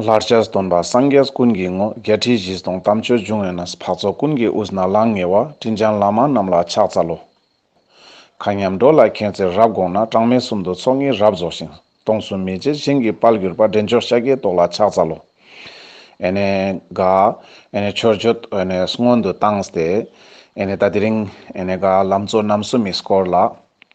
ལྷར་བྱས་སྟོན་པ་སངས་རྒྱས་ཀུན་གྱི་ངོ་རྒྱལ་ཁྲིད་བཞི་སྟོང་དམ་ཆོས་འབྱུང་ཡོད་ན་འཕགས་ཚོགས་ཀུན་གྱི་དབུས་ན་ལང་ངེ་བ་སྤྲིན་ཆང་ལཱ་མ་རྣམས་ལ་ཕྱག་འཚལ་ལོ། མཁའ་མཉམ་འགྲོ་ལ་མཁྱེན་བརྩེར་རབ་དགོངས་ན་གྲངས་མེད་སུམ་དུ་ཚོགས་གཉིས་རབ་རྫོགས་ཤིང་སྟོང་གསུམ་མི་མཇེད་བྱིན་གྱིས་དཔལ་གྱུར་པ་འདྲེན་མཆོག་ཤཱཀྱའི་ཏོག་ལ་ཕྱག་འཚལ་ལོ། ཨེ་ནས་དགའ། ཨེ་ནས་ཆོས་བརྗོད་ཨེ་ནས་སྔོན་དུ་བཏང་སྟེ། ཨེ་ནས་ད་དེ་རིང། ཨེ་ནས་དགའ་ལམ་གཙོ་རྣམ་གསུམ་མི་སྐོར་ལ།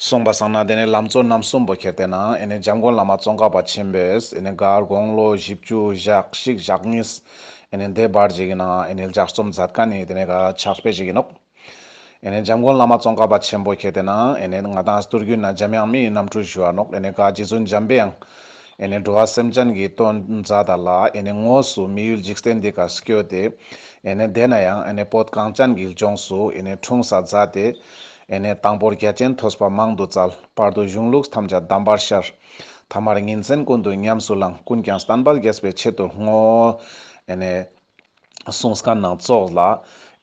གསུངས་པ་བཟང་ན་དེ་ནས་ལམ་གཙོ་རྣམ་གསུམ་པོ་ཁྱེར་ཏེ་ན་ཨེ་ནས་འཇམ་མགོན་བླ་མ་ཙོང་ཁ་པ་ཆེན་པོས་ཨེ་ནས་མགར་དགོངས་བློ་བཞི་བཅུ་བཞག་གཤིག་བཞག་གཉིས་ཨེ་ནས་བཟླས་པར་བྱས་ཀྱི་ན་ཨེ་ནས་ལྗགས་རྩོམ་མཛད་དཀའ་ནི་དེ་ནས་ག་ཕྱག་སྤེལ་བྱེད་ཀྱི་ནུབ། ཨེ་ནས་འཇམ་མགོན་བླ་མ་ཙོང་ཁ་པ་ཆེན་པོ་ཁྱེར་ཏེ་ན་ཨེ་ནས་ང་དང་སྟུར་རྒྱུད་ན་འཇམ་དབྱངས་མི་ཡི་རྣམ་འཕྲུལ་ཞུ་བ་ནུབ་ཨེ་ནས་ག་རྗེ་བཙུན་འཇམ་པའི་དབྱངས་ཨེ་ནས་འགྲོ་བ་སེམས་ཅན་གྱི་དོན་མཛད་ད་ལ་ཨེ་ནས་དངོས་སུ་མི་ཡུལ་འཇིག་རྟེན་འདི་ག་བསྐྱོད་དེ་ཨེ་ནས་བསྡད་ན་ཡང་ཨེ་ནས་བོད་གངས་ཅན་གྱི་ལྗོངས་སུ་ཨེ་ནས་འཁྲུངས་ས་མཛད་དེ། ཨེ་ནས་དང་པོར་རྒྱལ་ཆེན་ཐོས་པ་མང་དུ་སྩལ། བར་དུ་གཞུང་ལུགས་ཐམས་ཅད་གདམས་པར་ཤར། ཐ་མར་ཉིན་མཚན་ཀུན་ཏུ་ཉམས་སུ་བླངས། ཀུན་ཀྱང་བསྟན་པ་རྒྱས་པའི་ཆེད་དུ་བསྔོ། ཨེ་ནས། གསུང་སྐད་སྣང་བཙོག་ལ།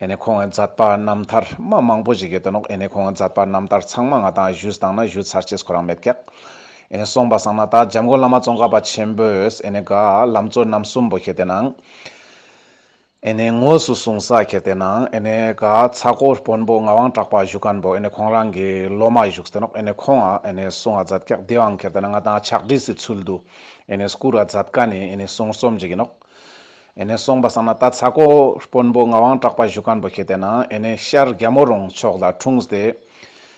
ཨེ་ནས་ཁོང་ཨེ་མཛད་པ་རྣམ་ཐར་སྨྲ་མང་པོ་ཞིག་གིས་སྟོན་ནོ། ཨེ་ནས་ཁོང་ཨེ་མཛད་པ་རྣམ་ཐར་ཚང་མ་ང་དང་གཞུ་བཟང་ན་གཞུ་ཚར་ཆེས་ཁོ་རང་མེད་སྐད། ཨེ་ནས་གསུངས་པ་བཟང་ན་དག་འཇམ་མགོན་བླ་མ་ཙོང་ཁ་པ་ཆེན་པོས་ཨེ་ནས་དགའ། ལམ་གཙོ་རྣམ་གསུམ་པོ་ཁྱེད་དེ་ན། ཨེ་ནས་དངོས་སུ་གསུང་ས་ཁྱེར་དེ་ནའང་ཨེ་ནས་ག་ཚ་ཀོ་དཔོན་པོ་ངག་དབང་གྲགས་པ་བཞུགས་ག་འདུག་ཨེ་ནས་ཁོང་རང་གི་སློབ་མ་བཞུགས་ཟེར་ནོག་ཨེ་ནས་ཁོང་ཨ་ཨེ་ནས་གསུང་ཨ་ཛད་ཀྱག་དེའང་ཁྱེར་དེ་ན་ང་དང་ཕྱག་བྲིས་སི་ཚུལ་དུ་ཨེ་ནས་སྐུར་ཨ་ཛད་ག་ནས་ཨེ་ནས་གསུང་རྩོམ་བྱེད་ཀྱི་ནོག་ཨེ་ནས་གསུང་པ་བསམ་ན་ད་ཚ་ཀོ་དཔོན་པོ་ངག་དབང་གྲགས་པ་བཞུགས་ག་འདུག་ཁྱེར་དེ་ནའང་ཨེ་ནས་ཤར་རྒྱ་མོ་རོང་ཕྱོགས་ལ་འཁྲུངས་ཏེ་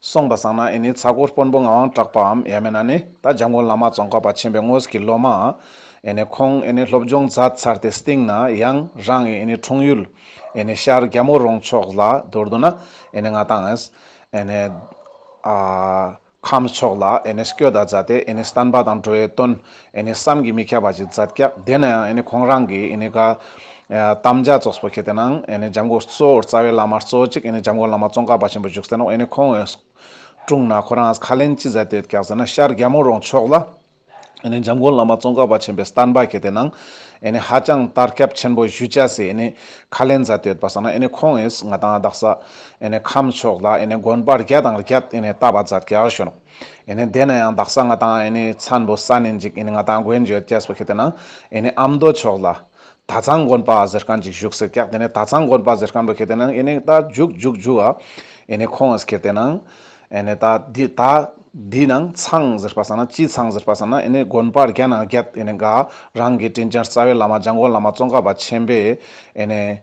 སོང་པ་བཟང་ན་ཨེ་ནི་ཚ་གོར་དཔོན་པོ་ངའང་སྐྲག་པའམ་ཡ་མེད་ན་ནི་ད་འཇམ་མགོན་བླ་མ་ཙོང་ཁ་པ་ཆེན་པའི་དངོས་ཀྱི་སློབ་མ་ཨ་ཨེ་ནི་ཁོང་ཨེ་ནི་སློབ་སྦྱོང་མཛད་ཚར་ཏེ་སྟེང་ན་ཡང་རང་གི་ཨེ་ནི་འཁྲུངས་ཡུལ་ཨེ་ནི་ཤར་རྒྱ་མོ་རོང་ཕྱོགས་ལ་དོར་འདུག་ན་ཨེ་ནི་ང་དང་ཨེ་ནི་ཨ་ཁམས་ཕྱོགས་ལ་ཨེ་ནི་སྐྱོད་ད་མཛད་དེ་ཨེ་ནི་སྟན་པ་དང་འགྲོ་བའི་དོན་ཨེ་ནས་བསམ་གྱིས་མི་ཁྱབ་པ་ཅིག་མཛད་སྐད་དེ་ནས་ཨེ་ནས་ཁོང་རང་གིས་ཨེ་ནས་ཀ་དམ་རྒྱ་མཚོ་སོགས་ཁྱེར་ཏེ་ནང་ཨེ་ནས་འཇམ་མགོ་གཙོ་བོར་རྩ་བའི་བླ་མ་གཙོ་གཅིག་ཨེ་ནས་འཇམ་མགོ་བླ་མ་ཙོང་ཁ་པ་ཆེན་པོ་བཞུགས་ཟེར་ནོ་ཨེ་ནས་ཁོང་འོས་སྤྲུངས་ན་ཁོ་རང་ཁ་ལེན་ཅི་མཛད་དེ་རྒྱག་ཟེར་ན་ཤར་རྒྱལ་མོ་རོང་ཕྱོགས་ལ་ཨེ་ནས་འཇམ་མགོ་བླ་མ་ཙོང་ཁ་པ་ཆེན་པོས་སྟར་འབག་ཁྱེར་ཏེ་ནང་ཨེ་ནས་ཧ་ཅང་ལྟར་སྐྱབས་ཆེན་པོ་བཞུད་བྱ་སའི་ཨེ་ནས་ཁ་ལེན་མཛད་དེ་བ་ས་ན་ཨེ་ནས་ཁོང་འོས་ང་དང་རྡག་ས་ཨེ་ནས་ཁམས་ཕྱོགས་ལ་ཨེ་ནས་དགོན་པར་རྒྱ་དང་རྒྱ་ཨེ་ནས་བཏབ་པ་མཛད་སྐད་ཨར་ཞོན་ཨེ་དེ་ན་ཡང་དག་ས་ང་དང་ཨེ་ཚན་པོ་ས་ནས་འཇིག་ཨེ་ང་དང་དགོན་བརྗོད་ཅེས་པ་ཤི་དེ་ན་ཨེ་ཨ་མདོ་ཕྱོགས་ལ། ད་ཚང་དགོན་པ་ཟེར་མཁན་ཅིག་བཞུགས་ཟེར་སྐྱག་དེ་ནས་ད་ཚང་དགོན་པ་ཟེར་མཁན་པོ་ཤི་དེ་ན་ཨེ་ད་རྒྱུག་རྒྱུག་རྒྱུག་ཨ་ཨེ་ཁོང་ཨེ་ཁྱེར་དེ་ན་ཨེ་ད་དེ་ད་དེ་ན་ཚང་ཟེར་པ་ས་ན་སྤྱི་ཚང་ཟེར་པ་ས་ན་ཨེ་དགོན་པ་རྒྱ་ན་རྒྱ་ཨེ་དགའ་རང་གི་དྲིན་ཅན་རྩ་བའི་བླ་མ་འཇང་དགོན་བླ་མ་ཙོང་ཁ་པ་ཆེན་པོས་ཨེ་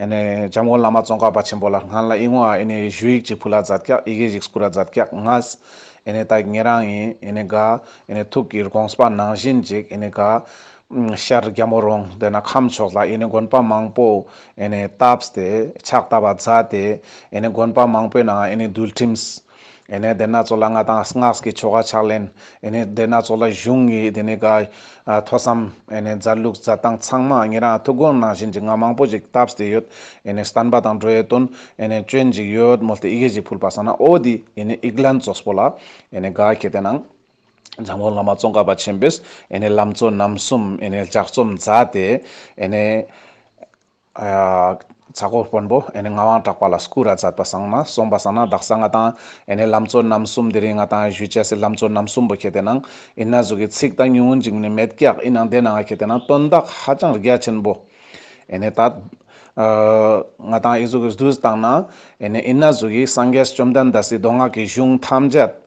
ཨེ་ནས་འཇམ་མགོན་བླ་མ་ཙོང་ཁ་པ་ཆེན་པོ་ལ་སྔར་ལ་ཨི་ངོ་ཨ་ཨེ་ནས་གཞུ་ཡིག་ཅིག་ཕུ་ལ་ཛ྄་ཀྱག་ཨི་གེ་ཡིག་སྐུ་ར་ཛ྄་ཀྱག་ང྄྄་ཨེ་ནས་ད་ངེད་རང་ཡིན་ཨེ་ནས་ག྄་ཨེ་ནས་ཐུགས་ཀྱི་ར྄ྒོང་ས྄་ནང་བཞིན་ཅིག་ཨེ་ནས་ག྄་ཤར་རྒྱལ་མོ་རོང་སྡེ་ན་ཁམས་ཕྱོགས་ལ་ཨེ་ནས་དགོན་པ་མང་པོ་ཨེ་ནས་བཏབས་ཏེ་ཕྱག་བཏབ་པ་ཛ྄་སྟེ་ཨེ་ནས་དགོན་པ་མང་པོའི་ནང་ཨེ་ནས་འདུལ་ཁྲིམས། ཨེ་ནས་དེ་སྣ་ཚོགས་ལ་སྔགས་དང་སྔགས་ཀྱི་ཆོ་ག་ཕྱག་ལེན། ཨེ་ནས་དེ་སྣ་ཚོགས་ལ་གཞུང་གི་དེ་ནས་ཐོས་བསམ། ཨེ་ནས་མཛའ་ལུགས་མཛའ་ཐང་ཚང་མ་ངེད་རང་ཐུགས་དགོངས་ནང་བཞིན་གྱི་སྔགས་མང་པོ་ཞིག་བཏབ་བསྡད་ཡོད། ཨེ་ནས་བསྟན་པ་དང་འགྲོ་ཡས་དོན། ཨེ་ནས་སྤྱོད་འཇིག་ཡོད་མོད་ཏེ་ཡི་གེ་ཞིག་ཕུལ་པ་ས་ན་ཨོ་དི་ཡི་ནས་ཨིག་ལན་ཙོས་པོ་ལ། ཨེ་ནས་གཱ་གྱེས་དེ་ནང། འཇམ་མགོན་བླ་མ་ཙོང་ཁ་པ་ཆེན་པོས་ཨེ་ནས་ལམ་གཙོ་རྣམ་གསུམ་ཨེ་ནས་ལྗགས་རྩོམ་མཛད་དེ། ཨེ་ནས། རྩ་སྒོ་དཔོན་པོ་ཨེ་ནི་ངག་དབང་གྲགས་པ་ལ་སྐུ་ར་མཛད་པ་བཟང་ན་གསུངས་པ་བཟང་ན་བདག་ས་ལྔ་དང་ཨེ་ནི་ལམ་གཙོ་རྣམ་གསུམ་འདི་རིང་ང་དང་གཞུད་བཅས་སྲིད་ལམ་གཙོ་རྣམ་གསུམ་པོ་ཁྱེད་དེ་ནང་ཨིན་ན་གཟུགས་ཀྱི་ཚིག་དང་ཉུང་ངུ་འཇིགས་ནི་མེད་ཀྱག་ཨི་ནང་དེ་ནང་ང་ཁྱེད་དེ་ནང་སྟོན་བདག་ཧ་ཅང་རྒྱ་ཆེན་པོ་ཨེ་ནི་ད། ང་དང་ཨི་གཟུགས་ཀྱི་བདུད་བཏང་ན་ཨེ་ནི་ཨིན་ན་གཟུགས་ཀྱི་སངས་རྒྱས་བཅོམ་ལྡན་འདས་སྲིད་མདོ་སྔགས་ཀྱི་གཞུང་ཐམས་ཅད།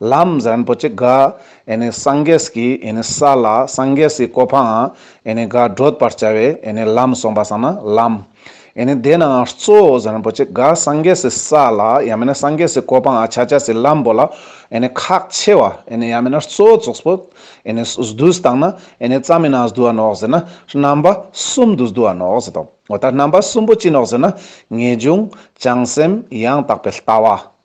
ལམ་གཟན་པོ་གཅིག་གིས་སངས་རྒྱས་ཀྱི་ས་ལ་སངས་རྒྱས་སུ་བཀོད་པའང་བགྲོད་པར་བྱ་བས་ལམ་གསུངས་པ་སངས་ལམ། དེས་ན་གཙོ་བོ་གཟན་པོ་གཅིག་གིས་སངས་རྒྱས་སུ་ས་ལ་ཡང་མིན་སངས་རྒྱས་སུ་བཀོད་པའང་ཕྱག་རྒྱ་སེ་ལམ་པོ་ལ་ཁག་ཆེ་བ་ཡང་མིན་གཙོ་བོ་ཚོགས་པོ་བདུད་དང་ནི་རྩ་མེད་ནང་བསྡུ་བ་ནོ་ཟེར་ན་རྣམ་པ་གསུམ་དུ་བསྡུ་བ་ནོ་ཟེར་ཏོ། ད་རྣམ་པ་གསུམ་པོ་ཅི་ནོ་ཟེར་ན་ངེས་འབྱུང་བྱང་སེམས་ཡང་དག་པའི་ལྟ་བ།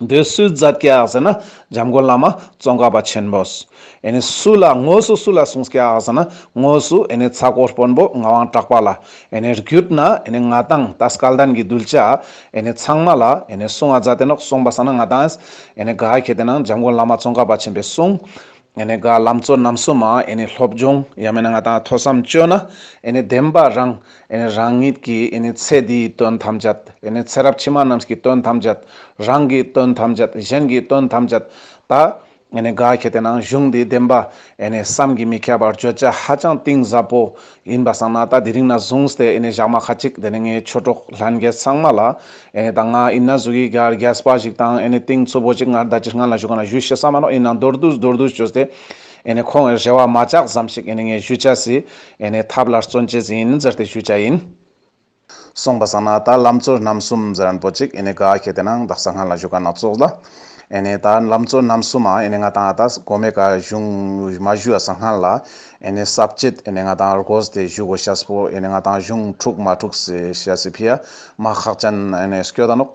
འདི་སུའི་རྫ་སྐྱག་ཟེར་ན་འཇམ་མགོན་བླ་མ་ཙོང་ཁ་པ་ཆེན་པོ། ཨེ་ནི་སུ་ལ་དངོས་སུ་སུ་ལ་གསུངས་སྐྱག་ཟེར་ན་དངོས་སུ་ཨེ་ནི་ཚ་ཀོ་དཔོན་པོ་ངག་དབང་གྲགས་པ་ལ་ཨེ་ནི་རྒྱུད་ན་ཨེ་ནི་ང་དང་ད་སྐལ་ལྡན་གྱི་གདུལ་བྱ་ཨེ་ནི་ཚང་མ་ལ་ཨེ་ནི་གསུང་ཨ་ཛ་དེ་ནོག་གསུངས་པ་ས་ན་ང་དང་ཨེ་ནི་དགའ་ཁྱེད་དེ་ན་འཇམ་མགོན་བླ་མ་ཙོང་ཁ་པ་ཆེན་པོས་གསུངས། ཨེ་ནས་དགའ་ལམ་གཙོ་རྣམ་གསུམ་མ་ཨེ་ནས་སློབ་སྦྱོང་ཡང་མེད་ན་ང་དང་ཐོས་བསམ་བཅོས་ན་ཨེ་ནས་བདེན་པ་རང་ཨེ་ནས་རང་ཉིད་ཀྱི་ཨེ་ནས་ཚེ་འདིའི་དོན་ཐམས་ཅད་ཨེ་ནས་ཚེ་རབས་ཕྱི་མ་རྣམས་ཀྱི་དོན་ཐམས་ཅད་རང་གི་དོན་ཐམས་ཅད་གཞན་གྱི་དོན་ཐམས་ཅད་ད་ཨེ་ནས་དགའ་ཁྱེད་དེ་ནང་གཞུང་འདི་བདེན་པ་ཨེ་ནས་བསམ་གྱིས་མི་ཁྱབ་པར་བརྗོད་བྱ་ཧ་ཅང་གཏིང་ཟབ་པོ་ཡིན་པ་བསམ་ན་ད་དེ་རིང་ན་བཟུང་སྟེ་ཨེ་ནས་བཞག་མ་ཁ་ཅིག་དེ་ནས་ངའི་ཆོས་གྲོགས་ལྷན་རྒྱས་ཚང་མ་ལ་ཨེ་ནས་ད་ང་ཨིན་ན་བཟོ་གི་ག་རྒྱ་ས་པ་ཞིག་དང་ཨེ་ནས་ཏིང་ཚུ་བོ་ཅིག་ངར་ད་ཅི་སྔ་ན་བཞུགས་ག་ན་བཞུགས་ཤེས་ས་མ་རོ་ཨིན་ན་མདོར་བསྡུས་མདོར་བསྡུས་བྱོས་ཏེ་ཨེ་ནས་ཁོང་ཨེ་རེ་བ་མ་ཅག་ཙམ་ཞིག་ཨེ་ནས་ངས་བཞུད་བྱ་སྲིད་ཨེ་ནས་ཐབས་ལ་བརྩོན་བྱེད་ཟིན་ཟེར་ཏེ་བཞུད་བྱ་ཡིན། སོང་པ་བསམ་ན་ད་ལམ་བཙོ་རྣམ་གསུམ་ཟེར་རན་པོ་ཅིག་ཨེ་ནས་ག་ཁྱེད་དེ་ནང་བདག་ས་སྔ་ལ་བཞུགས་ག་ན་བཙོག་ལ། ཨེ་ནས་ད་ལམ་བཙོ་རྣམ་གསུམ་ཨ་ཨེ་ནས་ང་དང་ཨ་ད་གོ་མེད་ག་བཞུགས་མ་བཞུགས་ཨ་ས་སྔ་ལ། ཨེ་ནས་སྲབ་བཅད་ཨེ་ནས་ང་དང་རྒོས་དེ་བཞུགས་གོ་ཤཱས་པོ་ཨེ་ནས་ང་དང་བཞུགས་འཁྲུག་མ་འཁྲུགས་སེ་ཤཱས་སེ་ཕི་ཨ་མ་ཧག་ཅན་ཨེ་ནས་སྐྱོ་ད་ནོག།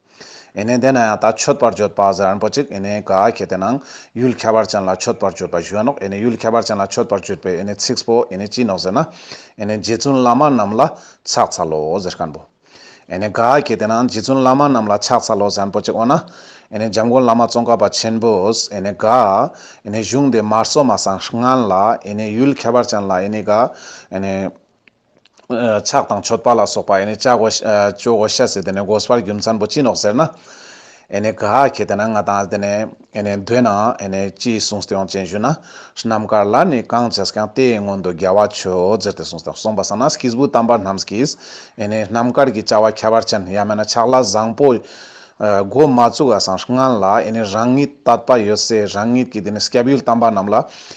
ཨེ་ནས་དེ་ན་ཡང་དག་མཆོད་པར་བརྗོད་པ་ཟེར་རན་པོ་ཅིག་ཨེ་ནས་ག་གེ་དེ་ནང་ཡུལ་ཁྱད་པར་ཅན་ལ་མཆོད་པར་བརྗོད་པ་གཞོན་ནོག་ཨེ་ནས་ཡུལ་ཁྱད་པར་ཅན་ལ་མཆོད་པར་བརྗོད་པའི་ཨེ་ནས་ཚིགས་པོ་ཨེ་ནས་ཅི་ནོག་ཟེར་ན་ཨེ་ནས་རྗེ་བཙུན་བླ་མ་རྣམས་ལ་ཕྱག་འཚལ་ལོ་ཟེར་ཀན་པོ་ཨེ་ནས་ག་གེ་དེ་ནང་རྗེ་བཙུན་བླ་མ་རྣམས་ལ་ཕྱག་འཚལ་ལོ་ཟེར་རན་པོ་ཅིག་འོ་ན་ཨེ་ནས་འཇམ་མགོན་བླ་མ་ཙོང་ཁ་པ་ཆེན་པོས་ཨེ་ནས་ག་ཨེ་ནས་གཞུང་འདི་མར་སོ་མ་སངས་སྔན་ལ་ཨེ་ནས་ཡུལ་ཁྱད་པར་ཅན་ལ་ཨེ་ནས་ག་ཨེ་ནས། ཕྱག་དང་མཆོད་པ་ལ་སོགས་པ་ནི་བཅའ་གོ། སྤྱོད་གོ་ཤ་ཟེར་དེ་ནས་འགོ་སྤར་རྒྱུ་མཚན་པོ་ཅི་ནོག་ཟེར་ན། ནི་ག་གེ་དེ་ན་ང་དང་དེ་ནས། འདོད་ན། ཅི་གསུངས་སྟེ་ཡོངས་ཅན་བཞུགས་ན། རྣམ་དཀར་ལ་ནི་གང་བྱས་ཀྱང་དེའི་སྔོན་དུ་རྒྱལ་བ་ཆོས་ཟེར་ཏེ་གསུངས་སྟེ་གསུངས་པ་ས་ན་ཀྱིས་བུ་དམ་པ་རྣམས་ཀྱིས། རྣམ་དཀར་གྱི་བཅའ་བ་ཁྱད་པར་ཅན་ཡང་མེད་ན་ཕྱག་ལ་བཟང་པོ། སྒོ་མ་བཙུགས་ཨ་སངས་སྔན་ལ་ནི་རང་ཉིད་བཏགས་པ་ཡོད་ཚེ་རང་ཉིད་ཀྱིས་དེ་ནས་སྐྱབས་ཡུལ་དམ་པ་རྣམས་ལ།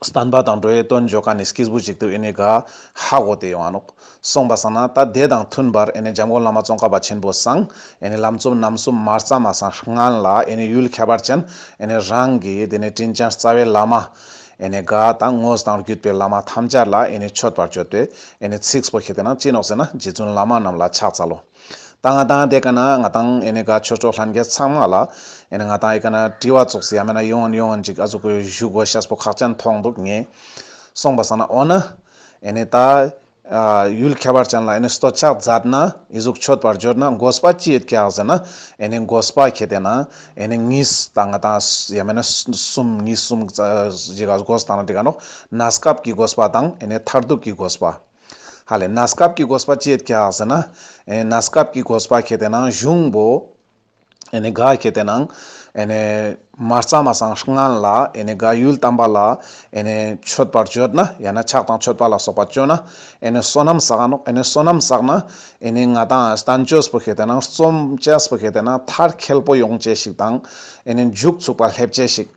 བསྟན་པ་དང་འགྲོ་བའི་དོན་བརྗོད་ཀ་ནས་སྐྱེས་བུ་ཅིག་ཏུ་ཨེ་ནས་ག་ཧ་གོ་དེ་ཡོང་ཨ་ནོག། གསུངས་པ་བསམ་ན་ད་དེ་དང་མཐུན་པར་ཨེ་ནས་འཇམ་མགོན་བླ་མ་ཙོང་ཁ་པ་ཆེན་པོ་བསང་ཨེ་ནས་ལམ་རྩོམ་རྣམ་གསུམ་མར་རྩ་མ་སངས་སྔན་ལ་ཨེ་ནས་ཡུལ་ཁྱད་པར་ཅན་ཨེ་ནས་རང་གི་དེ་ནས་དྲིན་ཅན་རྩ་བའི་བླ་མ་ཨེ་ནས་ག་དང་དངོས་དང་བརྒྱུད་པའི་བླ་མ་ཐམས་ཅད་ལ་ཨེ་ནས་མཆོད་པར་བྱོས་ཏེ་ཨེ་ནས་ཚིགས་སུ་བཞེས་ཏེ་ན་ཅི་ནོག་ཟེར་ན་རྗེ་བཙུན་བླ་མ་རྣམས་ལ་ཕྱག་འཚལ་ལོ། ད་ང་དང་དེ་ག་ན་ང་དང་ཨེ་ནི་ག་ཆོས་གྲོགས་ལྷན་རྒྱས་ཚང་མ་ལ་ཨེ་ནི་ང་དང་ཨེ་ག་ན་དྲི་བ་བཙུགས་ཡ་མེད་ན་ཡོང་ཡོང་ཡོང་ཅིག་ཨ་ཟུག་གི་བཞུགས་གོ་ཤས་པོ་ཁག་ཅན་མཐོང་འདུག་ངས་གསུངས་པ་ཟ་ན་འོ་ན་ཨེ་ནི་ད་ཡུལ་ཁྱད་པར་ཅན་ལ་ཨེ་ནི་སྟོད་ཆགས་རྫབ་ན་ཨི་གཟུགས་མཆོད་པར་འབྱོར་ན་མགོ་སྤ་ཅི་ཡོད་ཀྱག་ཟེར་ན་ཨེ་ནི་མགོ་སྤ་ཁྱེད་དེ་ན་ཨེ་ནི་ངིས་ད་ང་དང་ཡ་མེད་ན་གསུམ་ངིས་གསུམ་ཅིག་ཨ་གོ་ཟ་ད་ན་དེ་ག་ནོག་ན་སྐབས་ཀྱི་གོ་སྤ་དང་ཨེ་ནི་མཐར་ཐུག་གི་གོ་སྤ། ཧ་ལས་ན་སྐབས་ཀྱི་གོས་པ་བཅད་ཀྱ་ཟེར་ན། ན་སྐབས་ཀྱི་གོས་པ་གྱད་དེ་ན་གཞུང་བོ། ནི་ག་གྱད་དེ་ན། ནི་མ་རྩ་མ་སང་སྔན་ལ། ནི་ག་ཡུལ་དམ་པ་ལ། ནི་མཆོད་པར་བརྗོད་ན། ཡང་ན་ཕྱག་དང་མཆོད་པ་ལ་སོགས་པ་བཅོལ་ན། ནི་བསོད་ནམས་བསགས་ནོ། ནི་བསོད་ནམས་བསགས་ན། ནི་ང་དང་བསྟན་བཅོས་པོ་གྱད་དེ་ན། རྩོམ་བཅས་པོ་གྱད་དེ་ན་མཐར་ཁེལ་པོ་ཡོངས་བཅས་ཤིག་དང། ནི་མཇུག་ཚུགས་པ་སླེབས་བཅས་ཤིག།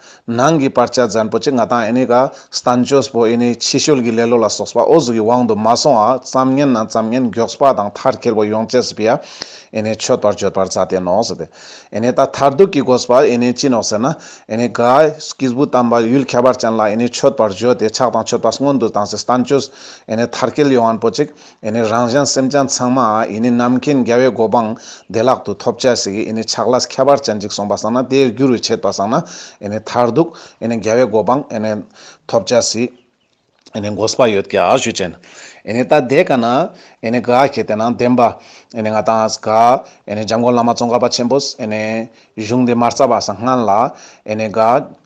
ནང་གི་པར་ཆ་ཛན་པོ་ཆེ་ང་དང་ཨེ་ནི་ཀ་སྟན་ཇོས་པོ་ཨེ་ནི་ཕྱི་ཤོལ་གྱི་ལེ་ལོ་ལ་སོགས་པ་ཨོ་ཟུག་གི་དབང་དུ་མ་སོང་བ་ཙམ་ཉན་ན་ཙམ་ཉན་མགྱོགས་པ་དང་མཐར་ཁེར་བོ་ཡོང་བཅས་སུ་པི་ཨ་ཨེ་ནི་ཆོད་པར་བརྗོད་པར་རྩ་བརྟན་ནོ་ཟེར་ཏེ་ཨེ་ནི་ད་མཐར་ཐུག་གི་གོ་སྤ་ཨེ་ནི་ཅི་ནོ་ཟེར་ན་ཨེ་ནི་ཀ་ཀིས་བུ་དམ་པ་ཡུལ་ཁྱད་པར་ཅན་ལ་ཨེ་ནི་ཆོད་པར་བརྗོད་དེ་ཆགས་དང་ཆོད་པ་སྔོན་དུ་བཏང་སའི་སྟན་ཇོས་ཨེ་ནི་མཐར་སྐྱེལ་ཡོང་བར་པོ་ཅིག། ཨེ་ནི་རང་བྱང་སེམས་བྱང་ཚང་མ་ཨེ་ནི་རྣམ་མཁྱེན་རྒྱལ་བའི་གོ་འཕང་བདེ་བླག་ཏུ་ཐོབ་བྱ་ཞིག་ཨེ་ནི་ཆགས་ལ་ཁྱད་པར་ཅན་ཅིག་སོང་པ་བསམ་ན་དེའི་རྒྱུ་རུ་བྱེད་པ་བསམ་ན་ཨེ་ནི་མཐར་གཏུགས་ཨེ་ནི་རྒྱལ་བའི་གོ་འཕང་ཨེ་ནི་ཐོབ་བྱ་ཞིག་ཨེ་ནི་མགོ་སྤ་ཡོད་ཀྱི་ཨ་ཞུས་ཅན་ཨེ་ནི་ད་དེ་ག་ན་ཨེ་ནི་ག་གེ་དེ་ན་བདེན་པ་ཨེ་ནི་ང་དང་ག་ཨེ་ནི་འཇམ་མགོན་བླ་མ་ཙོང་ཁ་པ་ཆེན་པོས་ཨེ་ནི་གཞུང་འདི་མ་རྩ་བ་སངས་སྔན་ལ་ཨེ་ནི་ག།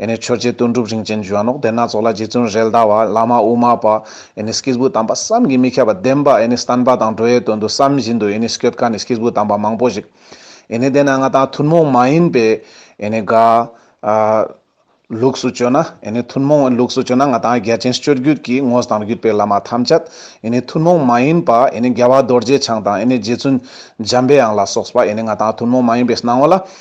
ཨེ་ནས་ཆོས་རྗེ་དོན་གྲུབ་རིན་ཆེན་འཇུ་བ་ནོག་སྡེ་སྣ་ཚོགས་ལ་རྗེ་བཙུན་རལ་གདའ་བ་བླ་མ་དབུ་མ་པ་ཨེ་ནས་སྐྱེས་བུ་དམ་པ་བསམ་གྱིས་མི་ཁྱབ་པ་བདེན་པ་ཨེ་ནས་བསྟན་པ་དང་འགྲོ་ཡའི་དོན་དུ་བསམ་བཞིན་དུ་ཨེ་ནས་སྐྱོད་དཀའ་ནས་སྐྱེས་བུ་དམ་པ་མང་པོ་ཞིག་ཨེ་ནས་བསྡད་ན་ང་དང་ཐུན་མོང་མ་ཡིན་པའི་ཨེ་ནས་དགའ། ལུགས་སུ་བཅོས་ན་ཨེ་ནས་ཐུན་མོང་ལུགས་སུ་བཅོས་ན་ང་དང་རྒྱལ་ཆེན་སྤྱོད་རྒྱུད་ཀྱི་དངོས་དང་བརྒྱུད་པའི་བླ་མ་ཐམས་ཅད་ཨེ་ནས་ཐུན་མོང་མ་ཡིན་པ་ཨེ་ནས་རྒྱལ་བ་རྡོ་རྗེ་འཆང་དང་ཨེ་ནས་རྗེ་བཙུན་འཇམ་པའི་དབྱངས་ལ་སོགས་པ་ཨེ་ནས་ང་དང་ཐུན་མོང་མ་ཡིན་པའི་སྣང་བ་ལ་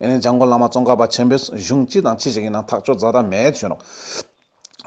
ཡིན་ནའི་འཇང་དགོན་བླ་མ་ཙོང་ཁ་པ་ཆེན་པོས་གཞུང་ཅི་དང་ཅི་ཞིག་གི་ནང་ཐག་གཅོད་རྫ་དར་མས་བྱོན་རོགས།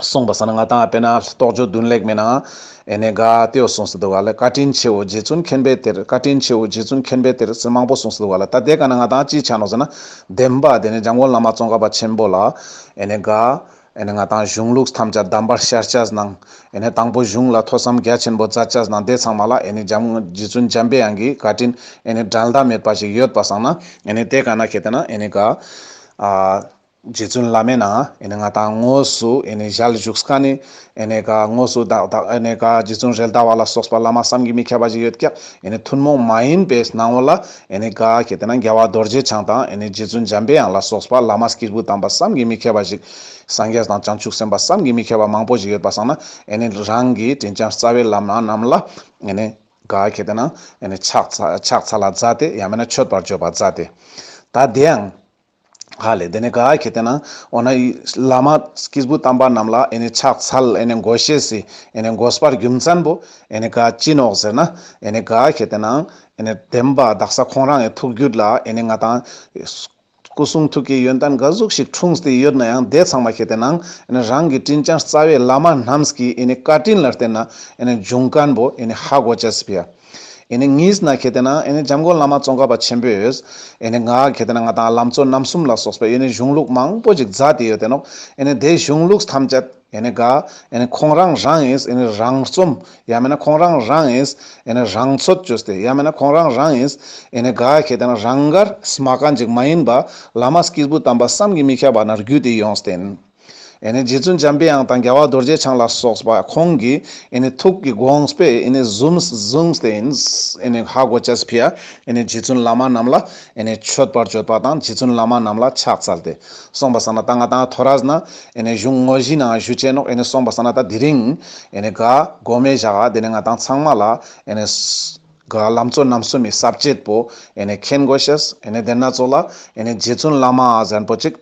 གསུངས་པ་ཟ་ན་ང་དང་ཨ་དཔེ་ན་རྟོགས་བརྗོད་བདུན་ལེགས་མེད་ན། ཨེ་ནས་དགའ་སྟེའོ་གསུངས་སུ་འདུག་ཨ་ལས་བཀའ་དྲིན་ཆེའོ་རྗེ་བཙུན་མཁྱེན་པའི་གཏེར་བཀའ་དྲིན་ཆེའོ་རྗེ་བཙུན་མཁྱེན་པའི་གཏེར་ཟེར་མང་པོ་གསུངས་སུ་འདུག་ཨ་ལས་ད་ལྟའི་སྐབས་ན་ང་དང་ཅི་ཆ་ནོ་ཟེར་ན། བདེན་པ་དེ་ནི་འཇང་དགོན་བླ་མ་ཙོང་ཁ་པ་ཆེན་པོ་ལ། ཨེ་ནས་དགའ། ཨེ་ནས་ང་དང་གཞུང་ལུགས་ཐམས་ཅད་བསྡམས་པར་ཤར་ལྕགས་གནང། ཨེ་ནས་དང་པོ་གཞུང་ལ་ཐོས་བསམ་རྒྱ་ཆེན་པོ་རྩ་ལྕགས་གནང་དེ་ཚང་མ་ལ་ཨེ་ནས་འཇམ་རྗེ་བཙུན་འཇམ་དཔལ་དབྱངས་ཀྱིས་བཀའ་དྲིན་ཨེ་ནས་དགྲར་ཟླ་མེད་པ་ཞིག་ཡོད་པ་བསམ་ན་ཨེ་ནས་དེ་ག་ན་གལ་ཏེ་ན་ཨེ་ནས་ག། རྗེ་བཙུན་བླ་མས་ན་ཨེ་ནས་ང་དང་དངོས་སུ་ཨེ་ནས་ཞལ་བཞུགས་སྐ་ནི་ཨེ་ནས་ག་དངོས་སུ་བདག་དང་ཨེ་ནས་ག་རྗེ་བཙུན་རལ་དྭ་བ་ལ་སོགས་པ་བླ་མ་བསམ་གྱིས་མི་ཁྱབ་པ་ཞིག་ཡོད་ཀྱང་ཨེ་ནས་ཐུན་མོང་མ་ཡིན་པའི་སྣང་བ་ལ་ཨེ་ནི་གཱ་ཁྱེད་དེ་ན་རྒྱལ་བ་རྡོ་རྗེ་འཆང་དང་ཨེ་ནི་རྗེ་བཙུན་འཇམ་པའི་དབྱངས་ལ་སོགས་པ་བླ་མ་སྐྱེས་བུ་དམ་པ་བསམ་གྱིས་མི་ཁྱབ་པ་ཞིག་སངས་རྒྱས་དང་བྱང་ཆུབ་སེམས་དཔའ་བསམ་གྱིས་མི་ཁྱབ་པ་མང་པོ་ཞིག་ཡོད་པ་བསམ་ན་ཨེ་ནི་རང་གི་དྲིན་ཅན་རྩ་བའི་བླ་མ་རྣམས་ལ་ཨེ་ནི་གཱ་ཁྱེད་དེ་ན་ཨེ་ནི་ཕྱག་འཚལ་ལ་བཛྲ་སྟེ་ཡང་མིན་ན་མཆོད་པར་བརྗོད་པར་བཛྲ་སྟེ། ད་དེའང། ཧ་ལས་དེ་ནས་ག་གེ་དེ་ན་འོ་ན་བླ་མ་སྐྱིད་པོ་དམ་པ་རྣམས་ལ་ཨེ་ནས་ཕྱག་འཚལ་ཨེ་ནས་མགོ་བཤེས་སི་ཨེ་ནས་མགོ་སྤར་རྒྱུ་མཚན་པོ་ཨེ་ནས་ག་ཅི་ནོག་ཟེར་ན་ཨེ་ནས་ག་གེ་དེ་ན་ཨེ་ནས་བདེན་པ་བདག་ས་ཁོང་རང་ཨེ་ཐུག་རྒྱུད་ལ་ཨེ་ནས་ང་དང། སྐུ་གསུང་ཐུགས་ཀྱི་ཡོན་ཏན་འགའ་གཟུགས་ཤིག་འཁྲུངས་ཏེ་ཡོད་ན་ཡང་འདས་ཚང་མ་གེ་དེ་ན་ཨེ་ནས་རང་གི་སྤྲིན་ཆང་རྩ་བའི་བླ་མ་རྣམས་ཀྱི་ཨེ་ནས་བཀའ་དྲིན་ལ་བརྟེན་ན་ཨེ་ནས་འབྱུང་ཀན་པོ་ཨེ་ནས་ཧ་གོ་བྱ་སི་བྷི་ཡ། ངས་ན་གལ་ཏེ་ན་འཇམ་མགོན་བླ་མ་ཙོང་ཁ་པ་ཆེན་པོས། ང་གལ་ཏེ་ན་ང་དང་ལམ་གཙོ་རྣམ་གསུམ་ལ་སོགས་པའི་གཞུང་ལུགས་མང་པོ་ཅིག་རྫ་དེ་ཡོད་དེ་ནོ། དེ་གཞུང་ལུགས་ཐམས་ཅད་འགའ། ཁོང་རང་རང་ཡིས་རང་རྩོམ། ཡང་མིན་ན་ཁོང་རང་རང་ཡིས་རང་འཚོལ་བཅོས་ཏེ་ཡང་མིན་ན་ཁོང་རང་རང་ཡིས་འགའ་གལ་ཏེ་ན་རང་འགར། སྨྲ་གང་ཅིག་མ་ཡིན་པ། བླ་མ་སྐྱེས་བུ་དམ་པ་བསམ་གྱིས་མི་ཁྱབ་པ་ན་རྒྱུད་དེ་ཡོངས་བསྟན། ཨེ་ནི་རྗེ་བཙུན་འཇམ་དཔལ་དབྱངས་དང་རྒྱལ་བ་རྡོ་རྗེ་འཆང་ལ་སོགས་པ་ཁོང་གི་ཨེ་ནི་ཐུགས་ཀྱི་དགོངས་པས་ཨེ་ནི་བཟུང་བཟུང་སྟེ་ཨེ་ནི་ཧ་གོ་ཅཱས་ཕིའ་ཨེ་ནི་རྗེ་བཙུན་བླ་མ་རྣམས་ལ་ཨེ་ནི་མཆོད་པར་བརྗོད་པ་དང་རྗེ་བཙུན་བླ་མ་རྣམས་ལ་ཕྱག་འཚལ་ཏེ་གསུངས་པ་ས་ན་ད་ང་དང་ཐོ་རས་ན་ཨེ་ནི་བཞུགས་དངོས་གཞི་ན་བཞུགས་ཅེས་ནོག་ཨེ་ནི་གསུངས་པ་ས་ན་ད་དི་རིང་ཨེ་ནི་དགའ་གོ་མེད་བཞག་ཨ་དེ་ནི་ང་དང་ཚང་མ་ལ་ཨེ་ནི་དགའ་ལམ་གཙོ་རྣམ་གསུམ་མི་ཟབ་བྱེད་པོ་ཨེ་ནི་མཁྱེན་གོ་ཞེས་ཨེ་ནི་དེ་སྣ་ཚོགས་ལ་ཨེ་ནི་རྗེ་བཙུན་བླ་མ་ཨ་བཟན་པོ་གཅིག།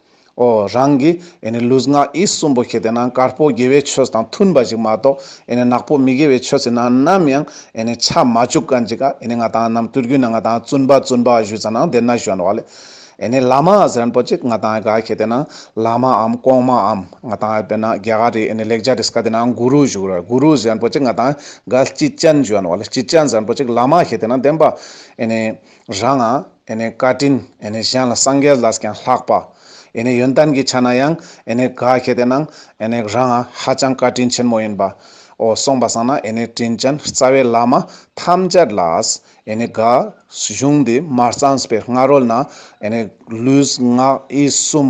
ཨོ། རང་གི་ཨེ་ནི་ལུས་ངག་ཡིད་གསུམ་པོ་ཁྱེར་ཏེ་ན་དཀར་པོ་དགེ་བའི་ཆོས་དང་མཐུན་པ་ཞིག་མ་གཏོགས་ཨེ་ནི་ནག་པོ་མི་དགེ་བའི་ཆོས་ཚིག་ནང་ནམ་ཡང་ཨེ་ནི་ཆ་མ་བཅུག་ག་འཇིག་ག་ཨེ་ནི་ང་དང་ནམ་དུས་རྒྱུན་ན་ང་དང་བཙུན་པ་བཙུན་པ་ཞུས་ཙང་ན་བདེ་ན་གཞོན་བ་ལས་ཨེ་ནི་ལ་མ་ཟེརན་པོ་ཅིག་ང་དང་ག་ཁྱེར་ཏེ་ན་ལ་མ་འམ་གོང་མ་འམ་ང་དང་ཨེ་པེ་ན་རྒྱ་གར་རི་ཨེ་ནི་ལེགས་བྱ་རིས་ག་དེ་ན་གུ་རུ་ཞུགས་ར་གུ་རུ་ཟེརན་པོ་ཅིག་ང་དང་ག་སྐྱིད་ཅན་གཞོན་བ་ལས་སྐྱིད་ཅན་ཟེརན་པོ་ཅིག་ལ་མ་ཁྱེར་ཏེ་ན་བདེན་པ་ཨེ་ནི། རང་ཨ་ནི་བཀའ་དྲིན་ཨ་ནི་གཞན་ལ་སངས་རྒྱས་ལས་ཀྱང་ལྷག་པ་ཨ་ནི་ཡོན་ཏན་གྱི་ཆ་ན་ཡང་ཨ་ནི་དགའ་ཤེས་དེ་ན་ཨ་ནི་རང་ཨ་ཧ་ཅང་བཀའ་དྲིན་ཆེན་མོ་ཡིན་པ་འོ་གསུངས་པ་སང་ན་ཨ་ནི་དྲིན་ཅན་རྩ་བའི་བླ་མ་ཐམས་ཅད་ལ་ཨ་ནི་དགའ། གཞུང་འདི་མ་གཙང་སྤེལ་སྔ་རོལ་ན་ཨ་ནི་ལུས་ངག་ཡིད་གསུམ་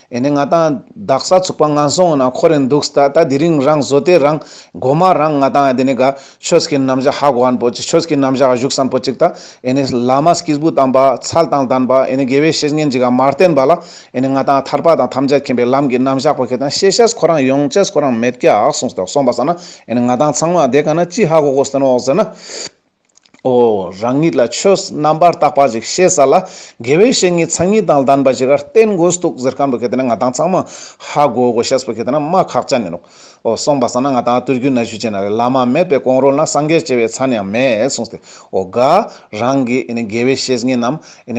ཡིན་ནའི་ང་དང་བདག་ས་ཚུགས་པ་ང་སོང་ན་ཁོ་རེ་འདུག་ད་ལྟ་དེ་རིང་རང་བཟོ་དེ་རང་མགོ་མ་རང་ང་དང་དེ་ནས་ག་ཆོས་ཀྱི་རྣམ་གཞག་ཧ་གོ་བར་འབོད་ཅིག་ཆོས་ཀྱི་རྣམ་གཞག་བཞུགས་སམ་འབོད་ཅིག་ད་ཡིན་ནའི་བླ་མ་སྐྱིས་བུ་དམ་པ་ཚལ་དང་ལྡན་པ་ཡིན་ནའི་དགེ་བའི་བཤེས་གཉེན་འཇིགས་མ་བརྟེན་པ་ལ་ཡིན་ནའི་ང་དང་ཐར་པ་དང་ཐམས་ཅད་མཁྱེན་པའི་ལམ་གྱི་རྣམ་གཞག་པ་ཁྱེད་དང་ཤེས་བྱས་ཁོ་རང་ཡོངས་བཅས་ཁོ་རང་མེད་ཀྱ་སོང་ཟེར་སོང་པ་ཟེར་ན་ཡིན་ནའི་ང་དང་ཚང་མ་བསྡད་ག་ན་ཅི་ཧ་གོ་གོ་ཟེར་ན་འོག་ཟེར་ན། ཨོ། རང་ཉིད་ལ་ཆོས་རྣམ་པར་དག་པ་ཞིག་ཤེས་ས་ལ་དགེ་བའི་བཤེས་གཉེན་ཚང་གཉིས་དང་ལྡན་པ་ཞིག་གར་བསྟེན་དགོས་འདུག་ཟེར་གང་འདུག་གལ་ཏེ་ན་ང་དང་ཚང་མ་ཧ་གོ་དགོས་ཤེས་པ་གལ་ཏེ་ན་མ་ཁག་ཅག་ནི་འདུག་ཨོ། སོང་པ་ས་ན་ང་དང་བསྟོད་རྒྱུ་ན་གཞུ་ཅན་ན་རེ་བླ་མ་མེད་པའི་གོང་རོལ་ན་སངས་རྒྱས་བྱེ་བའི་ཚ་ནི་ཡང་མེད་གསུངས་ཏེ་ཨོ་དགའ། རང་གི་དགེ་བའི་བཤེས་གཉེན་ནམ་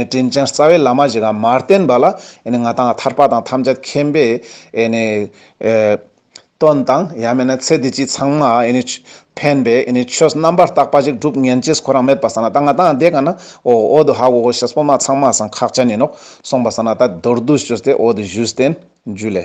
དྲིན་ཅན་རྩ་བའི་བླ་མ་ཞིག་གམ་མར་བསྟེན་པ་ལ་ང་དང་ཐར་པ་དང་ཐམས་ཅད་མཁྱེན་པའི། དོན་དང། ཡང་མིན་ན་ཚེ་འདི་སྤྱི་ཚང་མ་ཕན་པའི་ཆོས་རྣམ་པར་དག་པ་ཞིག་སྒྲུབ་ངན་ཅེས་ཁོ་རང་མེད་པར་ས་ན་ད་ང་དང་འདས་ག་ན་འོ་འོ་དུ་ཧ་གོ་གོ་ཞེས་སྤོབས་མ་ཚང་མ་སང་ཁག་ཅན་ཡིན་ནོ་གསུངས་པ་ས་ན་ད་མདོར་བསྡུས་བཅོས་ཏེ་འོ་དུ་བཞུས་བསྟན་བཅོས་ལས།